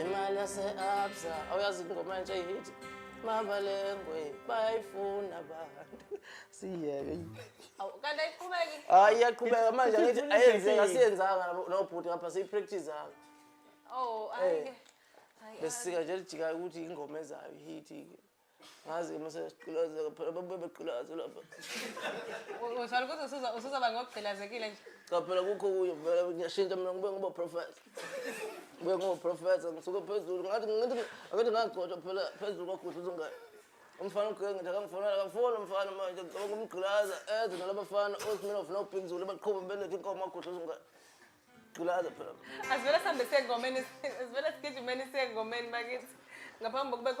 imali yase-absa awuyazi ingoma entsha ihithi mabalengwe bayayifuna abantu siyeke Awu, kanti ayiqhubeki hayi iyaqhubeka manje angithi ayenzeka asiyenzanga nabo- nobhuti ngapha siyipractise-anga oh ayike besisika nje lijikayo ukuthi ingoma ezayo ihithi-ke ngazi uma sesiqilazeka phela babuye beqilaze lapha Ushalo ukuthi usuza- usuzoba ngokugqilazekile nje. cha phela kukho kuyo vele ngiyashintsha mina ngibuye ngoba professor ngibuye ngoba professor ngisuke phezulu ngathi ngathi ngathi ngagcotshwa phela phezulu kwagudla uzungane umfana ugqike ngithi akangifonela akafoni umfana manje ngicabanga umgqilaza eze nalabafana osminof nobig zulu baqhuba beletha inkomo agudla uzungane gqilaza phela Asivele sihambe sengomeni, asivele sigijimeni sengomeni bakithi. Ngaphambi kokuba khona